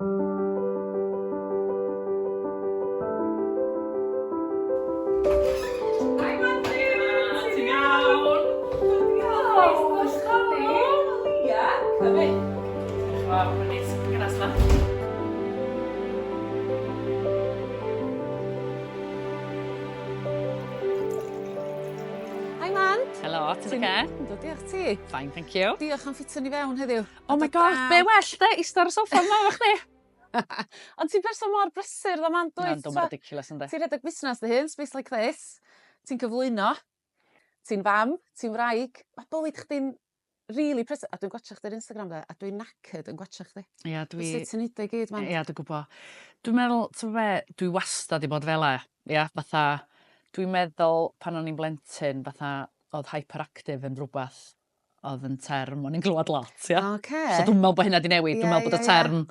Ti'n oce? Yndw, diolch ti. Fine, thank you. Diolch am ffitio ni fewn heddiw. Oh my God, be' well 'de ista ar y soffa fel 'ma efo chdi. Ond ti'n person mor brysur ddo mam dwyt? Ma'n dwmbo ridiculous yndi? Ti'n rhedeg busnas dy hun, space like this. Ti'n cyflwyno. Ti'n fam, ti'n wraig. Mae bywyd chdi'n rili prys- a dwi'n gwatsiad chdi'r Instagram de a dwi'n knackered yn gwatsiad chdi. Ia dwi... Dwi sut ti'n neud o i gyd man? Ia dwi'n gwbo. Dwi'n meddwl t'mo' be' dwi wastad 'di bod fel 'a ia fatha dwi'n meddwl pan o'n i'n blentyn fatha o'dd hyperactive yn rwbath oedd yn term o'n i'n glywed lot, ia. Oce. So dwi'n meddwl bod hynna wedi newid. Ie, dwi'n meddwl bod y ie, ie. term,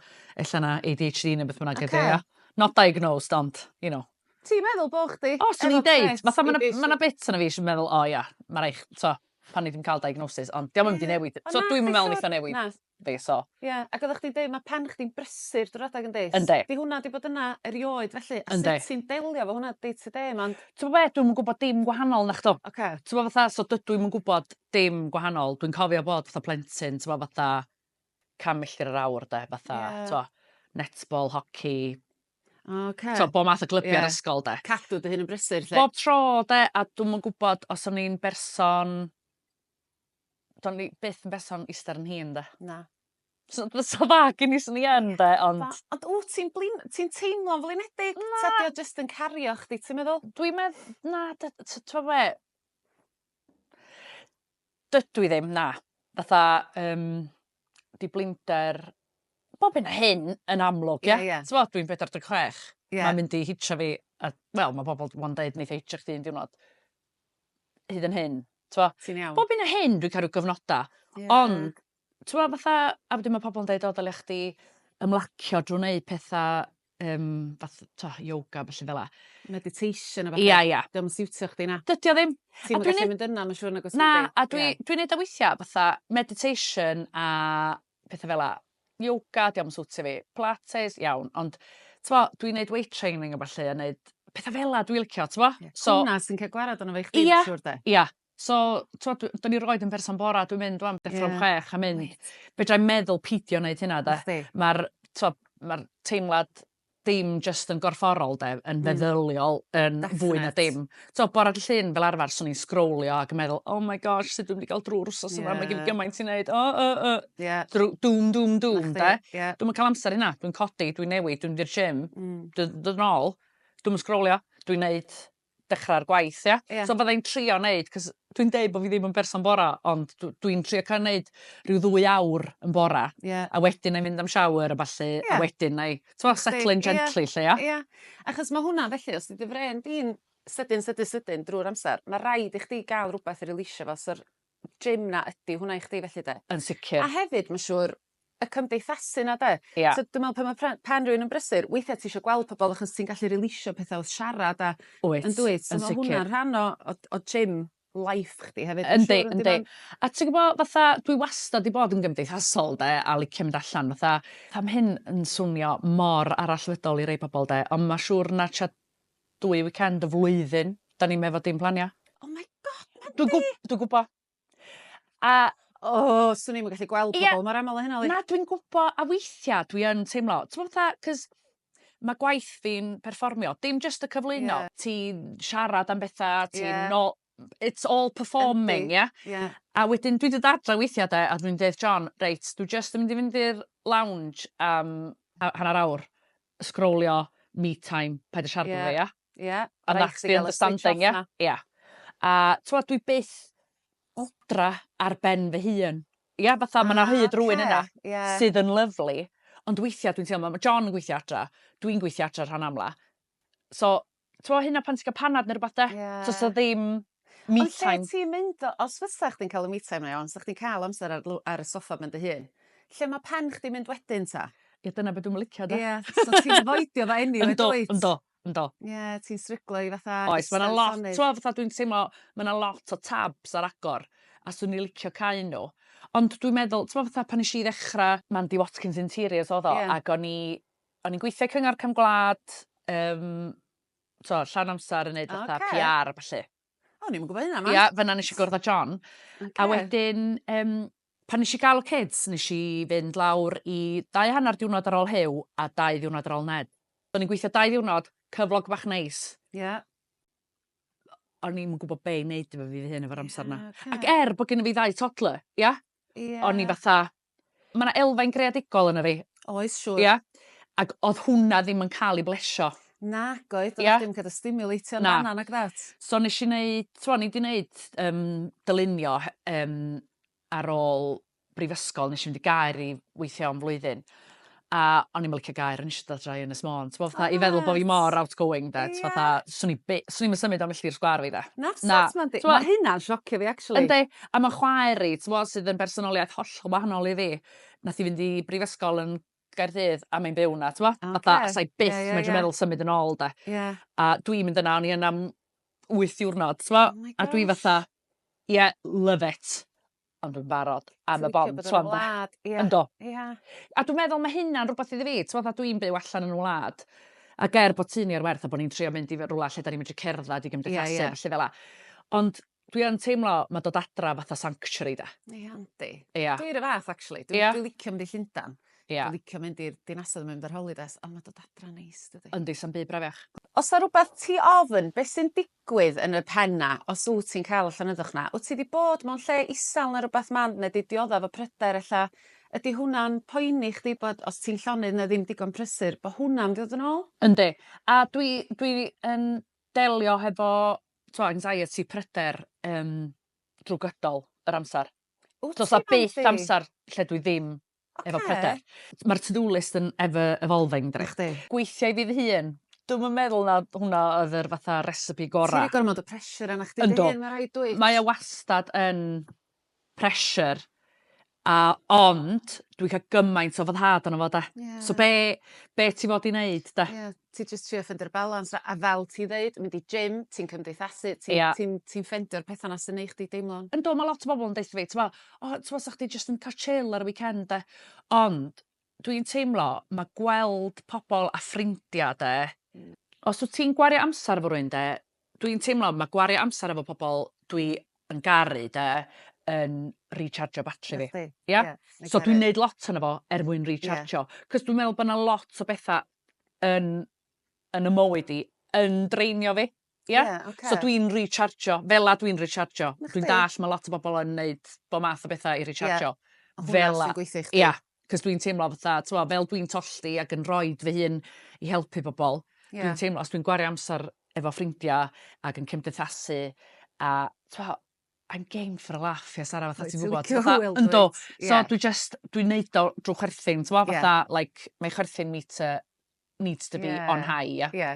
ella na ADHD neu beth bynnag ydy, Ocê. ia. Not diagnosed, ond, you know. Ti'n meddwl bo' chdi... O, swn i'n efo deud, trait fatha ma' 'na ADHD? ma' 'na bits yna fi sy'n meddwl, o ia, ma' rai' ch- t'o', pan ni 'di ca'l diagnosis, ond 'di o'm yn mynd i Ie, newid. ond So nath dwi'm yn meddwl neith o newid. Na, Yndi so... Ie ac oddach chdi'n deud ma' pan chdi'n brysur drw'r adag yndi? Yndi. 'Di hwnna 'di bod yna erioed felly? Yndi. A sut ti'n delio efo hwnna day to day 'ma ond... T'mo' be' dwi'm yn gwbod dim gwahanol nachdw? Oce. T'mo' fatha so dydw i'm yn gwbod dim gwahanol dwi'n cofio bod fatha plentyn t'mo' fatha can milltir yr awr 'de fatha... Ie. ...t'mo' netball hoci... O oce. ...t'o' bo' math o glybiau... Ie. ...yr ysgol 'de. Cadw dy hun yn brysur 'lly. Bob tro 'de a dw'm yn gwbod os o'n i'n berson Do'n ni byth yn berson ister yn hîn 'de? Na. So d- so dda gin i swn i yn 'de ond... Na ond wt ti'n blin- ti'n teimlo'n flinedig? Na. Ta 'di o jyst yn cario chdi ti'n meddwl? Dwi'n medd- na dy- t- t'mo' be'? Dydw i ddim na. Fatha yym 'di blinder bob hyn a hyn yn amlwg ia? Ia ia. T'mo' dwi'n bedwar deg chwech. Ia. Ma'n mynd i hitio fi a wel ma' bobol d- 'wan deud neith e hitio chdi un diwrnod. hyd yn hyn. T'mo'? Ti'n iawn. Bob hyn a hyn dwi'n ca'l rw gyfnoda. Ie. Ond t'mo' fatha a wedyn ma' pobol yn deud o dylia chdi ymlacio drw wneud petha yym fath t'o' yoga a bellu fel 'a. Meditation a ballu. Ia ia. 'Di o'm yn siwtio chdi na? Dydi o ddim. Ti'm yn gallu mynd yna ma' siŵr nag os Na a dwi dwi neud o weithia' fatha meditation a petha fel 'a. Yoga, 'di o'm yn siwtio fi. Pilates, iawn, ond t'mo', dwi'n neud weight training a ballu a neud petha fel 'a dwi licio t'mo'? Ie. So... Hwnna sy'n ca'l gwarad arno fo i chdi... Ia. ...dwi'n siŵr 'de? Ia. So t'mo' dw- 'dan ni roid yn berson bora dwi'n mynd rŵan deffro am chwech a mynd. Reit. Fedrai'm meddwl pidio neud hynna 'de? Nacdi. Ma'r t'o' ma'r teimlad dim jyst yn gorfforol 'de yn feddyliol yn fwy na dim. T'o' bore dy' Llun fel arfar swn i'n sgrowlio ac yn meddwl oh my gosh sut dwi'm 'di ga'l drw'r wsos yma ma' gen fi gymaint i neud o o o. Ie. Drw- dŵm dŵm dŵm 'de? Ie. Dwi'm yn ca'l amser i hynna dwi'n codi dwi'n newid dwi'n mynd i'r gym. Hmm. Dw- dod yn ôl dwi'm yn sgrowlio dwi'n neud dechrau'r gwaith ia? Ia. So fydda i'n trio neud 'c'os dwi'n deud bo' fi ddim yn berson bora ond dw- dwi'n trio ca'l neud rhyw ddwy awr yn bora. Ie. A wedyn 'nai mynd am shower a ballu... Ie. ...a wedyn 'nai t'mo' setlo'n gently 'lly ia? Ia. Achos ma' hwnna felly os 'di dy frên di'n sydyn sydyn sydyn drw'r amsar ma' raid i chdi ga'l rwbeth i releisio fo so'r gym 'na ydi hwnna i chdi felly 'de? Yn sicir. A hefyd ma' siŵr y cymdeithasu 'na 'de? Ia. So dwi me'wl pan ma' pre- pen rywun yn brysur weithia' ti isio gweld pobol achos ti'n gallu rilisio petha w'th siarad a... Wyt. ...yn dwyt? Yn sicir. So ma' hwnna'n rhan o o o gym life chdi hefyd dwi'n siŵr on'd yw e? Yndi yndi. A ti gwbo fatha dwi wastad 'di bod yn gymdeithasol 'de a licio mynd allan fatha fatha ma' hyn yn swnio mor arallfydol i rei pobol 'de on' ma' siŵr na tua dwy weekend y flwyddyn 'dan ni'm efo dim plania. Oh my God! Dwi'n gw- dwi gwbo. A O, swn i'm yn gallu gweld pobl yeah, mor aml o hynna. Like. Na, dwi'n gwybod, a weithiau dwi yn teimlo, ti'n gwybod fatha, cos mae gwaith fi'n perfformio, dim just y cyflwyno, yeah. ti siarad am bethau, ti yeah. no, it's all performing, ie? Yeah? Yeah. A wedyn dwi wedi adra weithiau de, a dwi'n dweud John, reit, dwi just yn mynd i fynd i'r lounge am um, hanner awr, sgrolio, me time, paid y siarad yeah. fe, ia? Ie. A nac di understanding ie? Ie. A t'mod dwi byth odra ar ben fy hun. Ia fatha ma' 'na hyd rywun yna... Ah oce ie. ...sydd yn lyfli ond weithia' dwi'n teimlo ma' John yn gweithio adra dwi'n gweithio adra rhan amla so t'mo' hynna pan ti ga'l panad ne' rwbath 'de? Ie. Do's 'a ddim me time. Ond lle ti'n mynd o- os fysa chdi'n ca'l y me time 'na iawn 'sa chdi'n ca'l amser ar lw- ar y soffa ben dy hun lle ma' pen chdi'n mynd wedyn 'ta? Ie dyna be' dwi'm yn licio 'de? Ie so ti'n afoidio fo eniwe dwyt? Yndw yndw. Yndw. Ie, ti'n stryglo i fatha... Oes, mae yna lot, ti'n fatha dwi'n teimlo, mae yna lot o tabs ar agor, a swn i licio cael nhw. Ond dwi'n meddwl, ti'n fatha pan eisiau i ddechrau, Mandy Watkins Interiors oedd o, yeah. ac o'n i'n gweithio cyngor cam gwlad, um, to, llawn amser yn neud fatha okay. PR a falle. O, ni'n gwybod hynna, ma. Ia, fyna nes i gwrdd â John. Okay. A wedyn, um, pan nes i gael y kids, nes i fynd lawr i dau hanner diwrnod ar ôl Hew a dau ddiwrnod ar ôl Ned. O'n i'n gweithio dau ddiwrnod, cyflog bach neis. Ie. Yeah. O'n i'n gwybod be i wneud efo fi fy hyn efo'r amser yna. Yeah, okay. Ac er bod gen i fi ddau toddler, ia? Yeah. O'n i fatha, Ma' 'na elfen greadigol yno fi. Oes siŵr. Ia? Ag o'dd hwnna ddim yn ca'l 'i blesio. Nag oedd. Ia? Do'dd dim ca'l dy stimulatio yn Na. fanna nag odd? So nesh i neud t'mo' o'n i 'di neud yym dylunio he- yym ar ôl brifysgol nesh i mynd i Gaer i weithio am flwyddyn a o'n i'm yn licio gair, o'n i eisiau dod adra i Ynys Môn, t'bo' fatha i feddwl bo' fi mor outgoing 'de t'bo' fatha swn i by- swn i'm yn symud o milltir sgwâr fi 'de. Na sut ma'n di- ma' hynna'n siocio fi actually. Yndi a ma' chwaer i t'mo' sydd yn bersonoliaeth hollol wahanol i fi nath i fynd i brifysgol yn Gaerdydd a mae'n byw 'na t'mo'? Oce. Fatha sai byth... Ie ie ie. ...medru meddwl symud yn ôl 'de. Ie. A dwi'n mynd yna o'n i yna am wyth diwrnod t'mo'? Oh my gosh. A dwi fatha ie love it. ond yn barod am y bont t'wo' am y wlad ia. Yndo. Ia. A dwi meddwl ma' hynna'n rwbath iddi fi t'mod a dwi'n byw allan yn y wlad ac er bod tŷ ni ar werth a bo' ni'n trio mynd i fy- rwla lle 'dan ni medru cerddad i gymdeithasu... Ie ie. ...a ballu fel 'a ond dwi yn teimlo ma' dod adra fatha sanctuary 'de? Ia yndi. Ia. Dwi 'r un fath actually. Ia? Dwi dwi licio mynd i Llundan. Ia. Dwi licio mynd i'r dinasoedd mynd ar holidays on' ma' dod adra neis dydi? Yndi sa'm byd brafiach. O's 'a rwbeth ti ofn be' sy'n digwydd yn y pen 'na os wt ti'n cael y llonyddwch 'na. Wt ti 'di bod mewn lle isel ne' rwbath mand ne' 'di diodda efo pryder ella ydi hwnna'n poeni chdi bod os ti'n llonydd ne' ddim digon prysur bo hwnna'n mynd i ddod yn ôl? Yndi. A dwi dwi yn delio hefo t'wo' anxiety pryder yym drw gydol yr amsar. Wt ti Bandi? Do's 'a byth amsar lle dwi ddim Oce. Efo pryder. Ma'r to do list yn ever evolving dydi? Nachdi. Gweithio i fi fy hun. Dwi'm yn meddwl na hwnna oedd yr fatha recipe gora'. Ti 'di gormod o pressure arnach chdi dy hun ma' raid dwyt? Mae o wastad yn pressure a ond dwi'n ca'l gymaint o foddhad ono fo 'de. Ie. So be' be' ti fod i neud 'de? Ie. ti jyst trio ffendio'r balans a a fel ti'n ddeud mynd i gym ti'n cymdeithasu ti'n... Ia. ...ti'n ti'n ffendio'r petha 'na sy'n neu' chdi deimlo'n... Yndw ma' lot o bobol yn deutho fi t'mo' o t'mo' 'sach chdi jyst yn ca'l chill ar y weekend 'de ond dwi'n teimlo ma' gweld pobol a ffrindia 'de os wt ti'n gwario amsar efo rywun 'de dwi'n teimlo ma' gwario amsar efo pobol dwi yn garu 'de yn rî-charjio batri fi. Nadi. Ia? Ia. So dwi'n neud lot ohono fo er mwyn rî-charjio. Ia. 'C'os dwi'n meddwl bo' 'na lot o betha yn yn 'y mywyd i yn drainio fi. Ia? Ie oce. So dwi'n rî-charjio fela dwi'n rî-charjio. Na chdi. Dwi'n dall' ma' lot o bobol yn neud bo' math o betha i rî-charjio. Ie. A hwnna Fela. sy'n gweithio i chdi. Ia 'c'os dwi'n teimlo fatha t'mo' fel dwi'n tollti ag yn rhoid fy hun i helpu bobol... Ie. ...dwi'n teimlo os dwi'n gwario amsar efo ffrindia ag yn cymdeithasu a t'mo' I'm game for a laugh ie Sara fatha ti'n gwbod fatha yndw so dwi jyst dwi'n neud o drw chwerthin t'mo' fatha like mae chwerthin meter needs to be on high ia? Ie.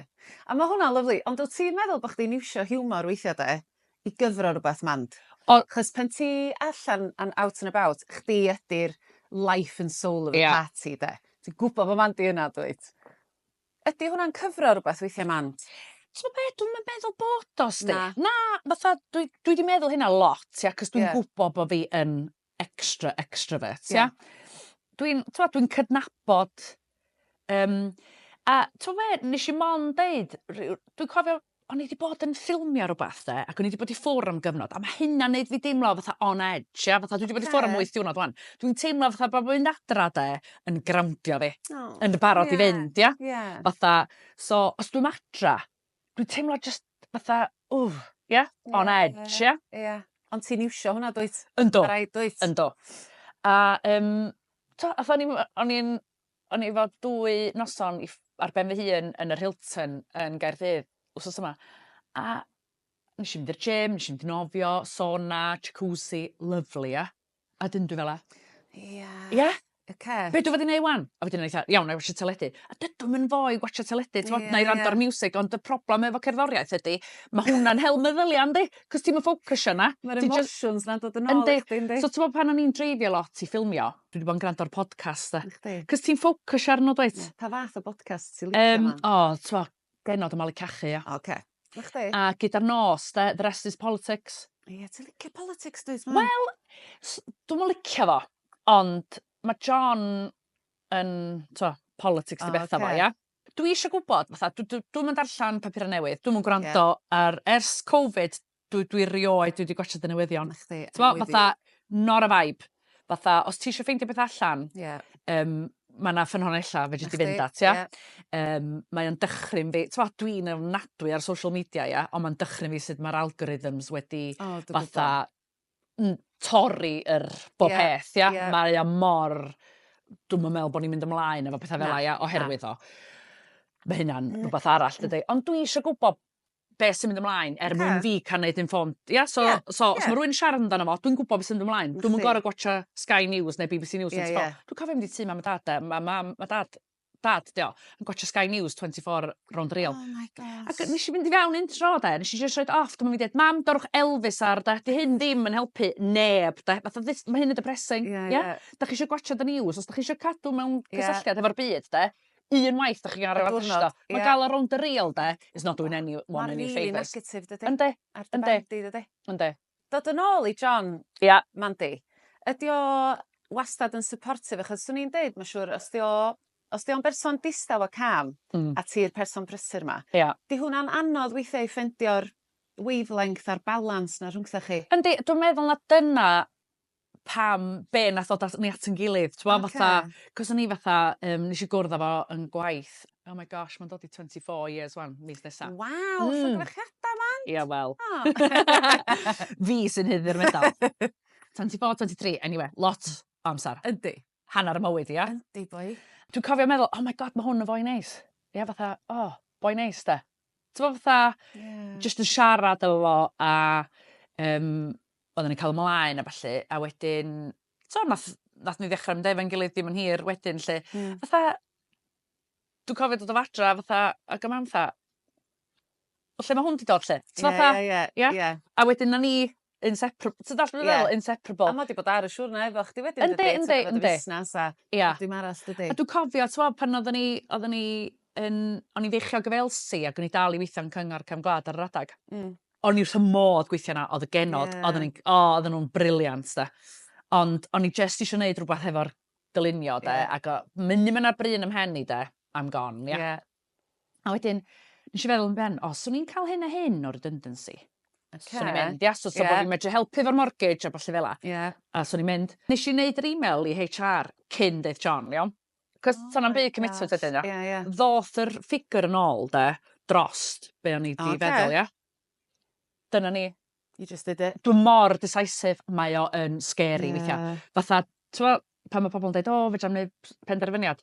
A ma' hwnna lyfli ond wt ti'n meddwl bo' chdi'n iwsio hiwmor weithia' 'de i gyfro rwbath mand? O- 'chos pan ti allan an' out an' about chdi ydi'r life and soul of the party 'de? Ti'n gwbo bo' mand 'di yna dwyt? Ydi hwnna'n cyfro rwbath weithia' 'man? T'mo' be' dwi'm yn meddwl bod o 'sdi. Na? Na fatha dwi dwi 'di meddwl hynna lot ia 'c'os dwi'n... Ie. ...gwbo bo' fi yn extra extravert ia? Ia. Dwi'n t'mo' dwi'n cydnabod yym a t'mo' be' nesh i mond deud ryw dwi cofio o'n i 'di bod yn ffilmio rwbath 'de ac o'n i 'di bod i ffwr' am gyfnod a ma' hynna'n neud fi deimlo fatha on edge ia fatha dwi 'di bod i ffwr' am wyth diwrnod ŵan. Dwi'n teimlo fatha bo' mynd adra 'de yn growndio fi. O. Yn barod i fynd ia? Ie. Fatha so os dwi'm adra dwi'n teimlo jyst fatha ww ia? On edge ia? Ia. Ond ti'n iwsio hwnna dwyt? Yndw. Ma' raid dwyt? Yndw. A yym t'o' ath o'n i w- yy o'n i'n O'n i efo dwy noson i ff- ar ben fy hun yn yr Hilton yn Gaerdydd wsos yma a nesh i mynd i'r gym nesh i mynd i nofio sona jacuzzi lyfli ia? A 'dyn dwi fela. Ia. Ia? Oce. Be' dwi fod i neu' 'wan? A wedyn o'n i 'tha iawn 'nai watsio teledu. A dydw i'm yn ddoe i watsio teledu t'mod... Ia ia. ...'nai rando ar miwsig ond y problem efo cerddoriaeth ydi ma' hwnna'n hel meddylia yndi? 'C'os ti'm yn ffocysio 'na. Ma'r emotioins 'na'n dod yn ôl i chdi yndi? Yndi. So t'mod pan o'n i'n dreifio lot i ffilmio dwi 'di bod yn grando ar podcast 'de. Nacdi? 'C'os ti'n ffocysio arno dwyt? Ie. Pa fath o bodcast ti licio Yym man? o t'mo' genod o malu cachu ia? Oce. Nachdi? A gyda'r nos 'de the rest is politics. Ie ti licio politics dwyt mam? Wel s- dwi'm yn licio fo ond ma' John yn t'mo' politics 'di O, betha fo ocê. ia? Dwi isio gwbod fatha dw- dw- dwi'm yn darllan papura' newydd dwi'm yn gwrando ar ers Covid Dwi, dwi rioed, dwi wedi gwachod y newyddion. Na chdi, T'mo, I'm with fatha, not a vibe. Fatha, os ti eisiau ffeindio beth allan, you. Ie. um, mae yna ffynhonella fedri Na di fynd chdi, at, ia? ie. Um, mae o'n dychryn fi, t'mo, dwi'n ofnadwy ar social media, ia, ond mae'n dychryn fi sut mae'r algorithms wedi O, dwi gwbo. fatha n- torri yr bob Ie, peth, ia? ie. Mae o mor... Dwi'm yn meddwl bod ni'n mynd ymlaen efo pethau Na, fel 'a, ia, oherwydd o. Mae hynna'n rhywbeth arall, dydy. Ond dwi eisiau gwybod beth sy'n mynd ymlaen er mwyn fi cael neud informed. Ia? So, yeah, so yeah. os mae rhywun siarad amdano fo, dwi'n gwybod beth sy'n mynd ymlaen. Dwi'n mynd gorau gwachio Sky News neu BBC News. Yeah, yeah. Dwi'n cofio mynd i tu mam a dad. Mae ma, ma dad dad, dio, yn gwachio Sky News 24 round real. Oh my god. Ac nes i fynd i fewn un tro, de, nes i just roed off, dwi'n mynd i dweud, mam, dorwch Elvis ar, da, di hyn ddim yn helpu neb, da, fatha, mae hyn yn depressing, yeah, yeah. yeah. Da chi eisiau gwachio the news, os da chi eisiau cadw mewn cysylltiad yeah. hefo'r byd, de, un waith dych chi'n gael rhywbeth drosto. Mae gael o rownd y real de is not doing any one any favours. Mae'n negatif dydy. Yndi. Ar dy ben di dydy. Yndi. Dod yn ôl i John. Ia. Mandy. Ydi o wastad yn supportive achos swn i'n deud ma' siŵr os 'di o os 'di o'n berson distaw a calm... Hmm. ...a ti'r person prysur 'ma. Ia. 'Di hwnna'n anodd weithia' i ffendio'r wavelength a'r balans 'na rhwngthoch chi. Yndi dwi meddwl na dyna pam be' nath ddod at ni at 'yn gilydd t'mo' fatha... Oce. ...'c'os o'n i fatha yym nesh i gwrdd â fo yn gwaith oh my gosh ma'n dod i twenty four years 'wan mis nesa. Waw! Hmm. Llongyfarchiada Mant! Ia wel. O! Fi sy'n haeddu'r medal. Twenty four twenty three eniwe lot o amsar. Yndi. hanner mywyd i, ia? Yndi, boi. Dwi'n cofio meddwl, oh my god, mae hwn yn fwy neis. Ia, fatha, oh, boi neis, da. Ti'n gwybod fatha, yeah. just yn siarad efo fo, a um, oedden ni'n cael ymlaen a falle, a wedyn, so, nath, nath ni ddechrau mynd efo'n gilydd dim yn hir wedyn, lle, mm. fatha, dwi'n cofio dod o fadra, fatha, ag y mam, fatha, o lle ma' hwn 'di dod 'lly? Ti fatha... Ie ie ie. Ia? Ia. A wedyn 'na ni yn separ- ti dallt be' dwi feddwl? Ie. Inseparable. A ma' 'di bod ar y siwrne efo chdi wedyn dydi? Yndi yndi yndi. Dy fusnas a... Ia. ...dim arall dydi? A dwi cofio t'mo' pan oddon ni oddon ni yn o'n i'n feichiog efo Elsi ag o'n i dal i weithio yn Cyngor Cefn Gwlad ar yr adag. Hmm. O'n i wrth 'ym modd gweithio 'na o'dd y genod... Ie. ...odden ni'n g- o odden nw'n brilliant 'de. Ond o'n i jyst isio neud rwbath hefo'r dylunio 'de? Ie. Ag o- munud ma' 'na bryn ym mhen i 'de I'm gone ia? Ie. A wedyn nes i feddwl yn ben, o, swn i'n cael hyn a hyn o redundancy. Okay. Swn i'n mynd, ia, so, so yeah. bod fi'n medru helpu fo'r mortgage a falle fel la. Yeah. A swn i'n mynd, nes i wneud yr e-mail i HR cyn deith John, iawn? Cos oh, sa'na'n byd commitment ydyn nhw. Yeah, yeah. Ddoth yr ffigur yn ôl, de, drost be o'n i di okay. feddwl, ia? Dyna ni. You just did it. Dwi mor decisive, mae o yn scary yeah. weithiau. Fatha, ti'n pan mae pobl yn dweud, o, fe jam wneud penderfyniad,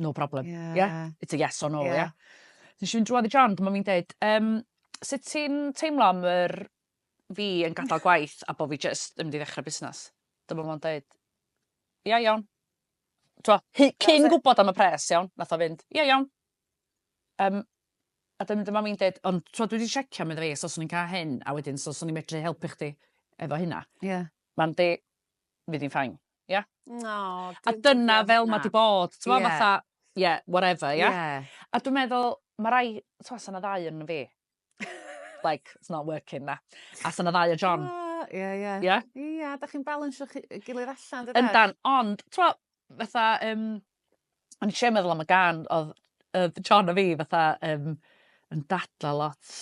no problem. Yeah. yeah? It's a yes or no, yeah. yeah? Nes i'n drwad i John, dyma mi'n dweud, um, sut ti'n teimlo am yr fi yn gadael gwaith a bod fi just yn mynd i ddechrau busnes? Dyma mi'n dweud, ia, iawn. Twa, cyn gwybod am y pres, iawn, nath o fynd, ia, iawn, Yym, a dyna dyma fi'n deud, ond tro dwi wedi siecio, meddwl fi, so swn i'n cael hyn, a wedyn, so swn i'n medru helpu chdi efo hynna. Ie. Yeah. Mae'n di, fydd hi'n ffain. Ie? Yeah? No. A dyna fel mae di bod. Ti'n yeah. fatha, yeah, whatever, ie? Yeah? Yeah. A dwi'n meddwl, mae rai, ti'n meddwl, yna ddau yn fi. like, it's not working na. A sy'n y ddau o John. Ah, ie, ie. Ie? Ie, da chi'n balansio chi, gilydd allan, dydych? Yndan, ond, twa, fatha, um, o'n i eisiau meddwl am y gan, oedd uh, John a fi, fatha, um, yn dadla lot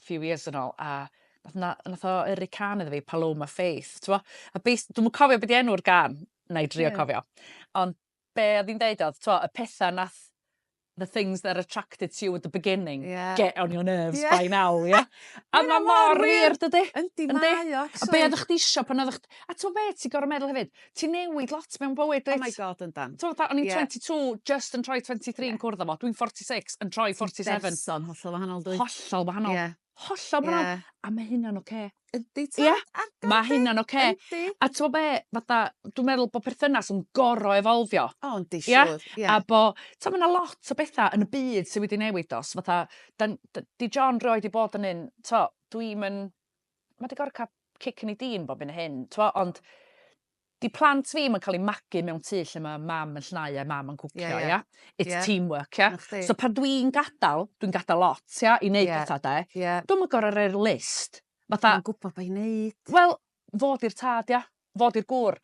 few years yn ôl, a nath, nath o yrru can iddo fi, Paloma Faith, twa. A beis, dwi'n cofio beth i enw'r gan, na i drio yeah. cofio. Ond be oedd hi'n deud oedd, t'mo', y pethau nath the things that attracted to you at the beginning... Ie. ...get on your nerves by now ie? A ma' mor wir dydi? Yndi mae o actually. A be' oddach chdi isio pan oddach chd- a t'mo' be' ti gor'o' meddwl hefyd ti'n newid lot mewn bywyd dwyt? Oh my God yndan. T'mo' fatha o'n i'n... Ie. ...twenty two jyst yn troi twenty three yn cwrdd â fo dwi'n forty six yn troi forty seven. Ti'n berson hollol wahanol yndwyt? Hollol wahanol. Ie. Hollol wahanol. Ie. A ma' hynna'n ocê. Yndi tad. Ia? Ar dy ôl di. Ma' hynna'n ocê. Yndi. A t'mo' be' fatha dwi meddwl bo' perthynas yn gor'o' evolfio. O yndi siŵr. Ia? Ia. A bo'... T'o' ma' 'na lot o betha yn y byd sy wedi newid do's fatha 'dan d- 'di John rioed 'di bod yn un t'o' dwi'm yn ma' 'di gor'o' ca'l cic yn 'i dîn bob hyn a hyn t'mo' ond 'di plant fi 'im yn ca'l 'u magu mewn tŷ lle ma' mam yn llnau a mam yn cwcio ia? Ie ie. It's Ie. teamwork ia? 'Na chdi. So pan dwi'n gadal dwi'n gadal lot ia i neud Ie. petha 'de. Ie. Dwi'm yn gor'o' roi'r list fatha... Ma'n gwbo be' i neud. Wel fo 'di'r tad ia? Fo 'di'r gŵr.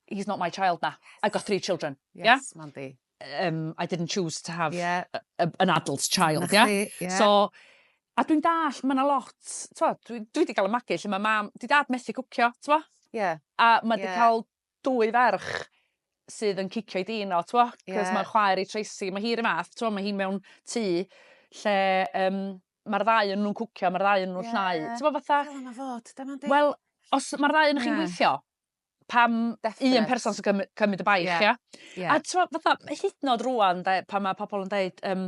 He's not my child na. I've got three children. Ia? Yes mam fi. um, I didn't choose to have yeah. a, a, an adult child, yeah? yeah? So, a dwi'n dall, mae yna lot, twa, dwi, dwi wedi cael y magu lle mae mam, di dad methu cwcio, twa? Yeah. A mae wedi yeah. cael dwy ferch sydd yn cicio i dyn o, twa? Cos yeah. mae'r chwaer i Tracy, mae hi'r math, twa, mae hi mewn tŷ lle um, mae'r ddau yn nhw'n cwcio, mae'r ddau yn nhw'n yeah. llnau. Ti'n bod fatha... Fel yna fod, dyma di. Wel, os mae'r ddau yn yeah. chi'n gweithio, pam Definite. un person sy'n cymryd, cymryd y baich, yeah. ia? Yeah. A ti'n fatha, hyd nod rwan, de, pan mae pobl yn dweud, um,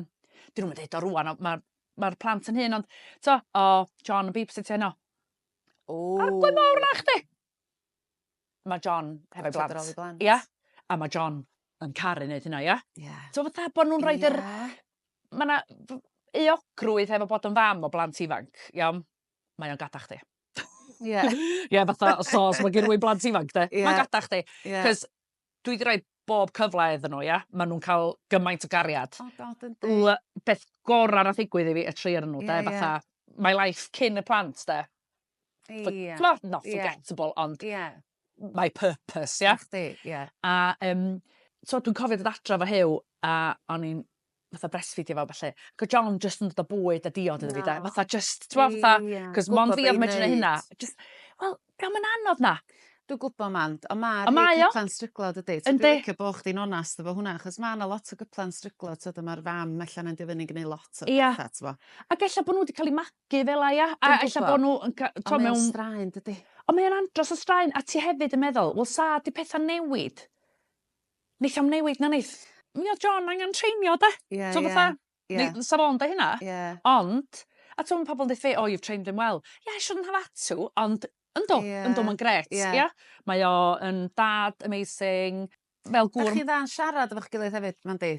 dyn nhw'n dweud o rwan, mae'r ma plant yn hyn, ond, to, o, oh, John yn babysit heno. O. A ble mawr na chdi? Mae John hefo blant. blant. Ia? A mae John yn caru wneud hynna, ia? Ie. Yeah. So fatha bod nhw'n rhoi yeah. yr... Mae yna eogrwydd hefo bod yn fam o blant ifanc, iawn? mae o'n gada chdi. Ie. Yeah. yeah, fatha, so, os mae gen i blant ifanc, de, yeah. mae'n gada chdi. Yeah. Cos dwi wedi rhoi bob cyfle iddyn nhw, ia? Maen nhw'n cael gymaint o gariad. Oh god, yn di. Beth gorau nath ddigwydd i fi, y tri ar nhw, yeah, de, fatha, yeah. my life cyn y plant, de. Ie. Yeah. Not forgettable, yeah. ond yeah. my purpose, ia? Chdi, ie. A, um, so dwi'n cofio dod adra fo hew, a o'n i'n fatha breastfeedio fo felly. Ac o John just yn dod o bwyd a diod iddo fi, da. Fatha just, ti'n gwybod, fatha, cos mon fi oedd medru hynna. Just, wel, gael mynd anodd na. Dwi'n gwybod man, ond mae'r mae cyplan stryglo dydy. Dwi'n licio bod chdi'n onast efo hwnna, achos mae yna lot o gyplan stryglo, tyd, mae'r fam allan yn dyfynu gwneud lot o bethau, ti'n Ac efallai bod nhw wedi cael eu Gyfeleia a Dwi'm ella gwbo. bo' n'w yn ca- t'o' mewn... Ond mae o'n straen dydi? Ond mae o'n andros o straen a ti hefyd yn meddwl wel sa 'di petha'n newid neith o'm newid na neith? Mi o'dd John angan treinio 'de? Ie ie. T'o' fatha... Ie. ...ni- fysa fo'n deu' hynna. Ie. Ond a t'o' ma' pobol yn deu' oh you've trained him well. Yeah I shouldn't have had to ond yndw... Ie. ...yndw ma'n grêt. Ie. Ia? Mae o yn dad amazing. fel gŵr... 'Dach chi'n dda yn siarad efo'ch gilydd hefyd nandi?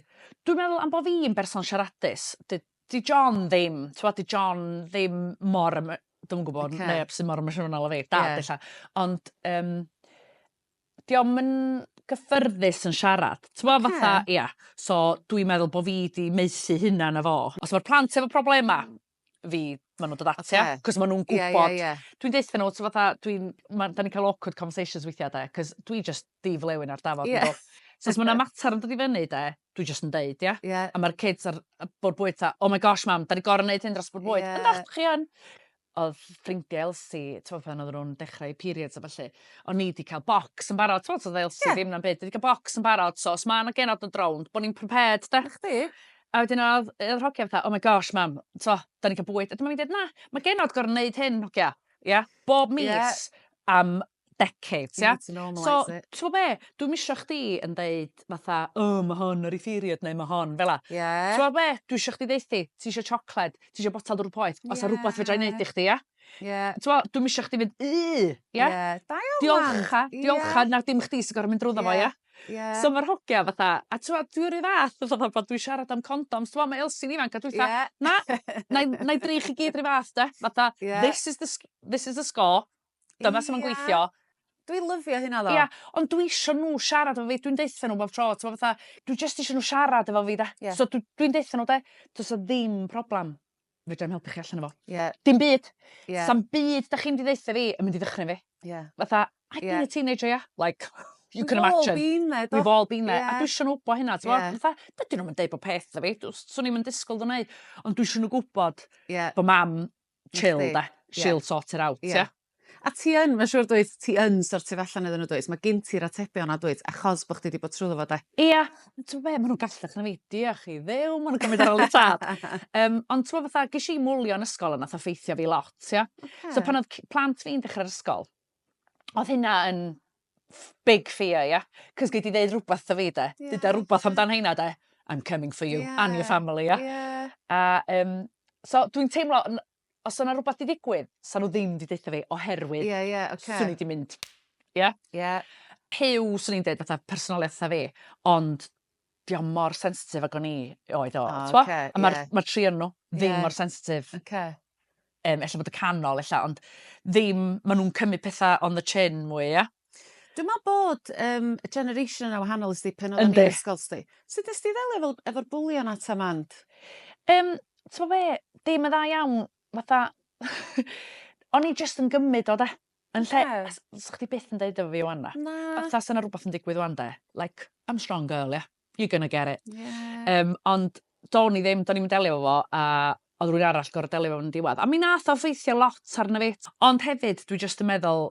Dwi'n meddwl am bo' fi'n berson siaradus 'di 'di John ddim t'wod 'di John ddim mor emo- dwi'm yn gwbod... Oce. ...neb sy mor emosiynol â fi. Dad ella. Ond yym 'di o'm yn gyffyrddus yn siarad. T'mo' fatha... Oce. ...ia so dwi'n meddwl bo' fi 'di maethu hunan â fo. Os ma'r plant efo problema fi ma' nw'n dod ata ti. Oce. 'C'os ma' nw'n gwbod... Ie ie ie. ...dwi'n deutha n'w t'mo' fatha dwi'n ma' 'dan ni'n ca'l awkward conversations weithia' 'de 'c'os dwi jyst di flewyn ar dafod yndw? Ie. So os ma' 'na matar yn dod i fyny 'de dwi jyst yn deud ia? Ie. A ma'r kids a'r yy bwr' bwyd 'tha oh my gosh mam 'dan ni gor'o' neud hyn dros bwr' bwyd. Ie. Yndw chi yn. Odd ffrindie Elsie t'mo' pan oddan nw'n dechra 'u periods a ballu o'n i 'di ca'l bocs yn barod t'mod so o'dd Elsie... Ie. ...ddim na'm byd 'di ca'l bocs yn barod so os ma' 'na genod yn d' rownd bo' ni'n prepared 'de? 'Na chdi. A wedyn oedd, oedd hogia fatha, oh my gosh mam, t'mo, da ni'n cael bwyd. A dyma fi'n dweud, na, mae genod gorau wneud hyn, hogia. Ia? Bob mis yeah. am decades, ia? So, ti'n be, dwi'n misio chdi yn dweud fatha, oh, mae hon ar ei period neu mae hon, fel la. Yeah. Ti'n be, dwi'n misio chdi ddeithu, ti eisiau siocled, ti eisiau botel drwy poeth, os yeah. a rhywbeth fedra i wneud i chdi, ia? Yeah. Ti'n dwi'n misio chdi fynd, yy, ia? Yeah. Diolch, diolch, yeah. na dim chdi sy'n gorau mynd drwy ddo fo, ia? Ie. So ma'r hogia fatha a t'mo' dwi 'run fath fatha fel pan dwi'n siarad am condoms t'mo' ma' Elsi'n ifanc a dwi fatha... Ie. ...na 'nai 'nai dri chi gyd 'run fath 'de fatha... Ie. ...this is the sc- this is the score dyma su' ma'n gweithio. Ia. Dwi lyfio hynna tho. Ia ond dwi isio n'w siarad efo fi dwi'n deutho n'w bob tro t'mo' fatha dwi jyst isio n'w siarad efo fi 'de? Ie. So dw- dwi'n deutho n'w 'de do's 'a ddim problem. fedra i'm helpu chi allan o fo. Ie. Dim byd. Ie. Sa'm byd 'dach chi'n mynd i ddeutha fi yn mynd i ddychryn fi. Ie. Fatha I've been a teenager yeah like you can imagine. We've all been there do? We've all been there. Ie. A dwi isio n'w wbo hynna t'mo'? Ie. Fatha dydyn nw'm yn deud bo' peth 'tho fi dws- swn i'm yn disgwl n'w neu' ond dwi isio n'w gwbod... Ie. ...bo' mam chill 'de. Ie. She'll sort it out ia? A ti yn, mae'n siŵr dwyt, ti yn sortio fe allan iddyn nhw dwyt? Mae gen ti'r atebion a dwyt, achos bod chdi wedi bod trwy fo de. Ia, ti'n be, maen nhw'n gallach na fi, diolch i ddew, maen nhw'n gymryd ar ôl y tad. um, ond ti'n fatha, ges i mwlio yn ysgol yna, tha ffeithio fi lot, ia. Okay. So pan oedd plant fi'n dechrau'r ysgol, oedd hynna yn big fear, ia. Cos gei di ddeud rhywbeth da fi, de. Yeah. Dyda rhywbeth amdan hynna, de. I'm coming for you yeah. and your family, ia. Yeah. A, um, so dwi'n teimlo, os o'na rwbath 'di ddigwydd, sa nw ddim 'di deutho fi oherwydd... Ie ie oce. ...swn i 'di mynd ia? Ia. Huw swn i'n deud fatha personoliath sa fi ond 'di o mor sensitif ag o'n i oedd o t'mo'? O oce ie. A ma'r ma'r tri o'nyn nw... Ie. ...ddim mor sensitif. Oce. Yym ella bod y canol ella ond ddim ma' nw'n cymryd petha on the chin mwy ia? Dwi'n meddwl bod um, generation yna wahanol ysdi pen oedd yn ysgol sti. Sut ysdi ddelio efo, efo'r bwlion at a mand? Um, Ti'n fe, dim yn dda iawn, fatha... o'n i just yn gymryd o de. Yn lle, yeah. sa'ch chdi byth yn deud efo fi o'n na. Na. Fatha sy'n yna rhywbeth yn digwydd o'n de. Like, I'm strong girl, yeah. You're gonna get it. Yeah. Um, ond do'n i ddim, do'n i'n delio fo, a oedd rwy'n arall gorau delio fo'n diwedd. A mi nath o ffeithio lot arno fi. Ond hefyd, dwi just yn meddwl,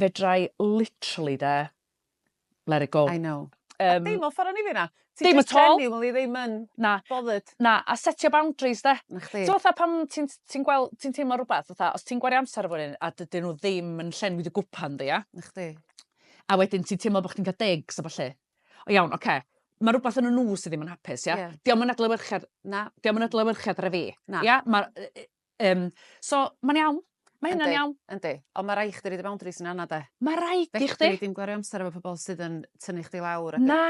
Fedrai literally de, let it go. I know. A Yym. deimlo ffor o'n i fina. Ti Dim jyst at all. genuinely ddim yn Na. bothered. Na, a setio boundaries 'de? 'Na chdi. T'mo' fatha pan ti'n ti'n gwel- ti'n teimlo rwbath fatha os ti'n gwario amser efo rywun a dydyn nhw ddim yn llenwi dy gwpan di ia? 'Na chdi. A wedyn ti'n teimlo bo' chdi'n cael digs a ballu. O iawn, ocê. Mae rhywbeth yn y nhw sydd ddim yn hapus, ia? Ie. Dio'm yn adlewyrchiad... Na. ...dio'm yn adlewyrchiad ar y fi. Na. Ia? Ma'r yy yy Yym so ma'n iawn. Ma' hynna'n iawn. Yndi. Ond ma' rai' chdi roid y boundaries yna yna 'de? Ma' raid i chdi. Fedri di'm gwario amser efo pobol sydd yn tynnu chdi lawr a... Na!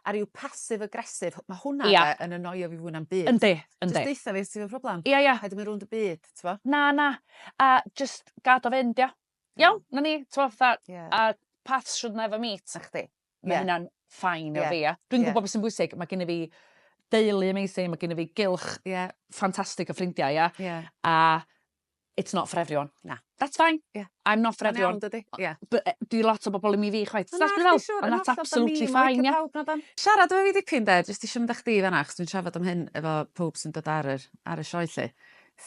...a ryw passive aggressive ma' hwnna 'de... Ia. ...yn annoio fi fwy na'm byd. Yndi yndi. Jyst deutha fi os ti efo problem. Ia ia. Paid â myn' rownd y byd t'mo'? Na na. A jyst gad o fynd ia? Iawn? 'Na ni t'mo' fatha... Ia. ...a paths should never meet. 'Na chdi. Mae yeah. hynna'n ffain yeah. o fi. A dwi'n yeah. gwybod beth sy'n bwysig. Mae gen i fi deulu amazing, mae gen i fi gylch yeah. ffantastig o ffrindiau, yeah? Yeah. a it's not for everyone. Na. That's fine. Yeah. I'm not for Mae'n everyone. Dydy. Yeah. But uh, di lot o bobl i mi fi chwaith. That's be fel. And that's absolutely fine, yeah. Siarad efo fi dipyn de, jyst eisiau mynd â chdi fanna, chos dwi'n siarad am hyn efo pob sy'n dod ar y, ar y sioe lle.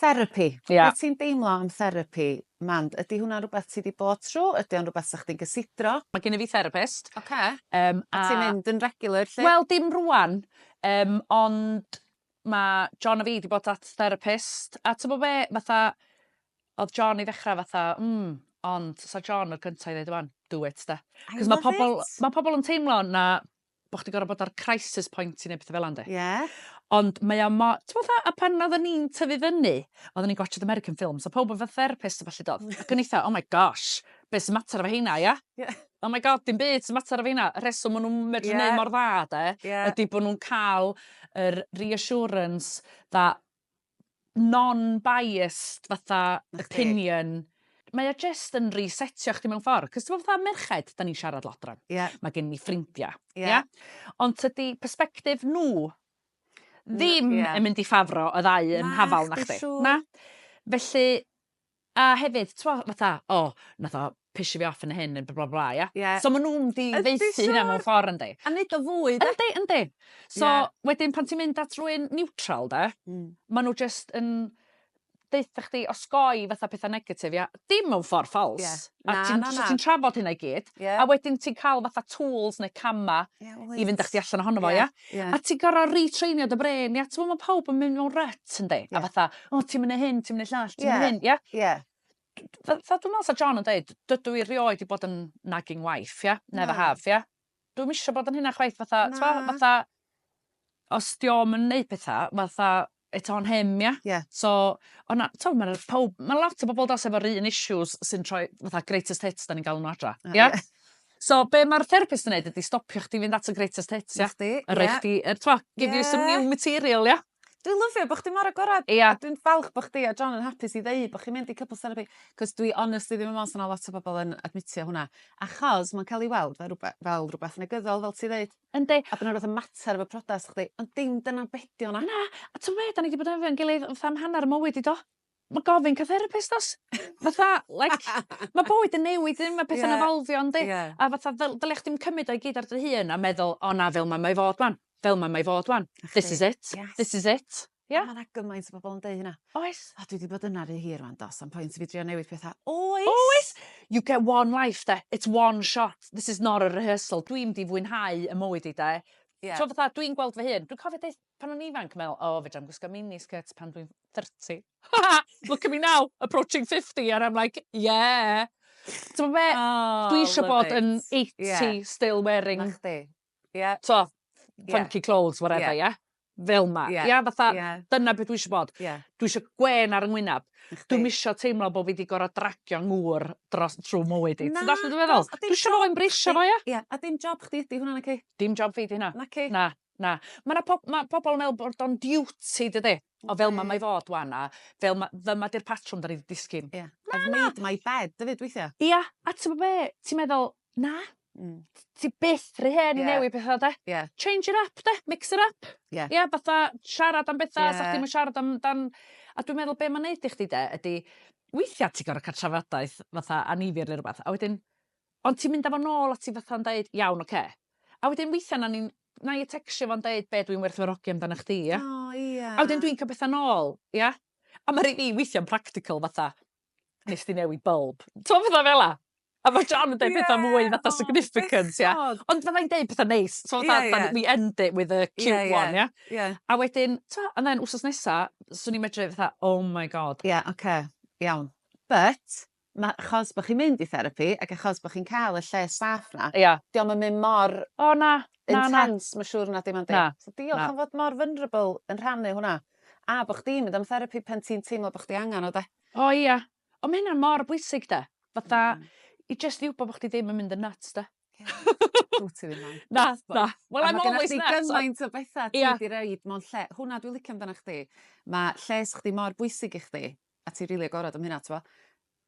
Therapy. Yeah. Beth ti'n deimlo am therapy? Mand, ydy hwnna'n rhywbeth ti 'di bod trw'? Ydy o'n rhywbeth 'sa chdi'n gysidro? Ma' gynna fi therapist. Ocê. Yym a... A ti'n mynd yn regular 'lly? Wel dim rŵan yym ond ma' John a fi 'di bod at therapist a t'mo' be' fatha o'dd John i ddechra fatha mm ond 'sa John y cynta i ddeud 'wan do it 'de. I love it. 'C'os ma' pobol ma' pobol yn teimlo na bo' chdi gor'o' bod ar crisis point i neud petha fel 'a yndi? Ie. Ond mae o mo- t'mo' fatha a pan oddan ni'n tyfu fyny oddan ni'n gwatsiad American films o' powb efo therapist a ballu do? Ac o'n i 'tha oh my gosh be' sy matar efo heina ia? Ie. Oh my God dim byd sy matar efo heina y rheswm ma' nw'n medru neud mor dda 'de... Ie. ...ydi bo' nw'n ca'l yr reassurance that non-biased fatha opinion mae o jyst yn resetio chdi mewn ffordd. Cos ti'n gwybod fatha merched, da ni'n siarad lot rhan. Yeah. Mae gen ni ffrindiau. Yeah. Yeah? Ond tydi perspective nhw ddim yeah. yn mynd i ffafro y ddau yn hafal na chdi. Na. Felly, A hefyd t'mo' fatha o nath o pisio fi off yn hyn ne' by- blah blah ia? Ie. So ma' nw'n mynd i ddaethu... Yndi siŵr. ...hynna mewn ffor yndi? A neud o fwy 'de? Yndi yndi. So... Ie. ...wedyn pan ti'n mynd at rywun niwtral 'de? Hmm. Ma' n'w jyst yn deutha chdi osgoi fatha petha negatif ia? Dim mewn ffor ffals. Ie. Na na na. A ti'n so ti'n trafod hynna i gyd. Ie. A wedyn ti'n ca'l fatha tools ne' cama'... Ie wyt. ...i fynd â chdi allan ohono fo ia? Ie. Ie. A ti gor'o' retrainio dy brên ia t'mo' ma' pawb yn mynd mewn rut yndi? Ie. A fatha o ti'm yn neu hyn ti'm yn neu llall ti'm yn hyn ia? Ie ie. Fe- fel dwi me'wl sa John yn deud dydw i rioed 'di bod yn nagging wife ia? Na. Never have ia? Dwi'm isio bod yn hynna chwaith fatha... Na. ...t'mo' fatha os 'di o'm yn neu petha fatha it's on him ia? Ie. So o' 'na t'o' ma' 'na powb ma' lot o bobol does efo'r un issues sy'n troi fatha greatest hits 'dan ni'n galw n'w adra. Ie? Ie. So be' ma'r therapist yn neud ydi stopio chdi fynd at y greatest hits ia? 'Na chdi. Ie. A roi chdi yy t'mo'... Ie. ...give you some new material ia? Dwi lyfio bo' chdi mor agored. Ia. A dwi'n falch bo' chdi a John yn hapus i ddeu bo' chi'n mynd i couples therapy 'c'os dwi honestly ddim yn me'wl sa 'na lot o bobol yn admitio hwnna achos ma'n ca'l 'i weld fel rwbe- fel rwbath negyddol fel ti ddeud. Yndi. A bo' 'na rwbeth yn mater efo priodas chdi ond dim dyna be' 'di o na? Na! A t'o' be' 'dan ni 'di bod efo'n gilydd fatha am hannar 'yn mywyd i do? Ma' gofyn ca' therapist do's? Fatha like ma' bywyd yn newid dydi ma' pethe'n evolfio yndi? Ie. A fatha ddyle dylia chdi'm cymyd o i gyd ar dy hun a meddwl o na fel 'ma mae fod 'wan. Fel 'ma mae fod 'wan. This is it. Yes. This is it. Ia? Ma' 'na gymaint o bobol yn deu hynna. Oes. O dwi 'di bod yna rhy hir rŵan do sa'm point i fi drio newid petha. Oes! Oes! You get one life 'de. It's one shot. This is not a rehearsal. Dwi mynd i fwynhau 'yn mywyd i 'de. Ie. T'mo' fatha dwi'n gweld fy hun dwi'n cofio deud pan o'n ifanc me'wl o fedrai'm gwisgo mini skirts pan dwi'n thirty. Look at me now approaching fifty and I'm like yeah. T'mo' be'? O! Dwi isio bod yn eighty still wearing... 'Na chdi. Ie. T'o'? Ie. Funky clothes whatever ie? Ie. Fel 'ma. Ie. Ia fatha... Ie. ...dyna be' dwi isio bod. Ie. Dwi isio gwên ar 'y ngwynab. Chdi. Dwi'm isio teimlo bo' fi 'di gor'o' dragio ngŵr dros trw mywyd i. Na. Ti'n dallt be' dwi feddwl? Nagos a dim job chdi. Dwi isio fo embraceio fo ia? Ia a dim job chdi ydi hwnna naci? Dim job fi 'di hynna. Naci? Na na. Ma' 'na pob- ma' pobol yn me'wl bod o'n duty dydi? O fel 'ma mae fod ŵan a fel 'ma dyma 'di'r patrwm 'dan ni 'di disgyn. Ia. Na na. I've made my bed efyd weithia'. Ia a t'mo' be' ti meddwl na Hmm. Ti byth rhy hen i newid petha 'de? Ie. Change it up 'de? Mix it up. Ie. Ia fatha siarad am betha... Ie. ...sa chdi'm yn siarad am dan a dwi'n meddwl be' ma'n neud i chdi 'de ydi weithia' ti gor'o' ca'l trafodaeth fatha annifyr ne' rwbath a wedyn ond ti'n mynd â fo nôl at 'i fatha'n deud iawn oce. A wedyn weithia' 'na ni'n 'nai yy tecsio fo'n deud be' dwi'n werthfawrogi amdanach chdi ia? O ia. A wedyn dwi'n ca'l petha nôl ia? A ma' rei fi weithia'n practical fatha nes di newid bulb. Ti'n meddwl fel la? A mae John yn dweud yeah, pethau mwy fatha oh, significant, ia. Yeah. Ond fyddai'n dweud pethau neis. So, yeah, yeah. we end it with a cute yeah, yeah. one, ia. Yeah. yeah. A wedyn, ta, and then wsos nesa, swn i'n medru fatha, oh my god. Ie, yeah, oce, okay. iawn. But, ma, chos bod chi'n mynd i therapi, ac achos bod chi'n cael y lle saff na, yeah. diolch yn mynd mor... O, oh, na. Intense, mae'n siŵr na dim ond dim. So diolch am fod mor vulnerable yn rhannu hwnna. A bo' chdi'n mynd am therapi pan ti'n teimlo bo' chdi angan o 'de? O ia. On' ma' hynna mor bwysig 'de? Fatha i jyst i wbo bo' chdi ddim yn mynd yn nyts 'de? Ia. Dw't ti ddim yn. Na na. Wel I'm always nuts on-... A ma' gynna chdi gymaint o betha ti... Ia. ...'di roid mewn lle. Hwnna dwi licio amdanach chdi. Ma' lles chdi mor bwysig i chdi a ti rili agorad am hynna t'mo'?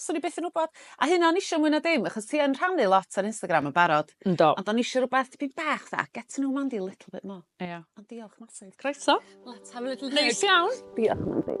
Swn i byth yn wbod. A hynna o'n i isio mwy na dim achos ti yn rhannu lot ar Instagram yn barod. Yndw. Ond o'n i isio rwbeth tipyn bach fatha get to know Mandy a little bit more. Ia. Ond diolch massive. Croeso. Let's have a little hug. Neis iawn. Diolch Mandy.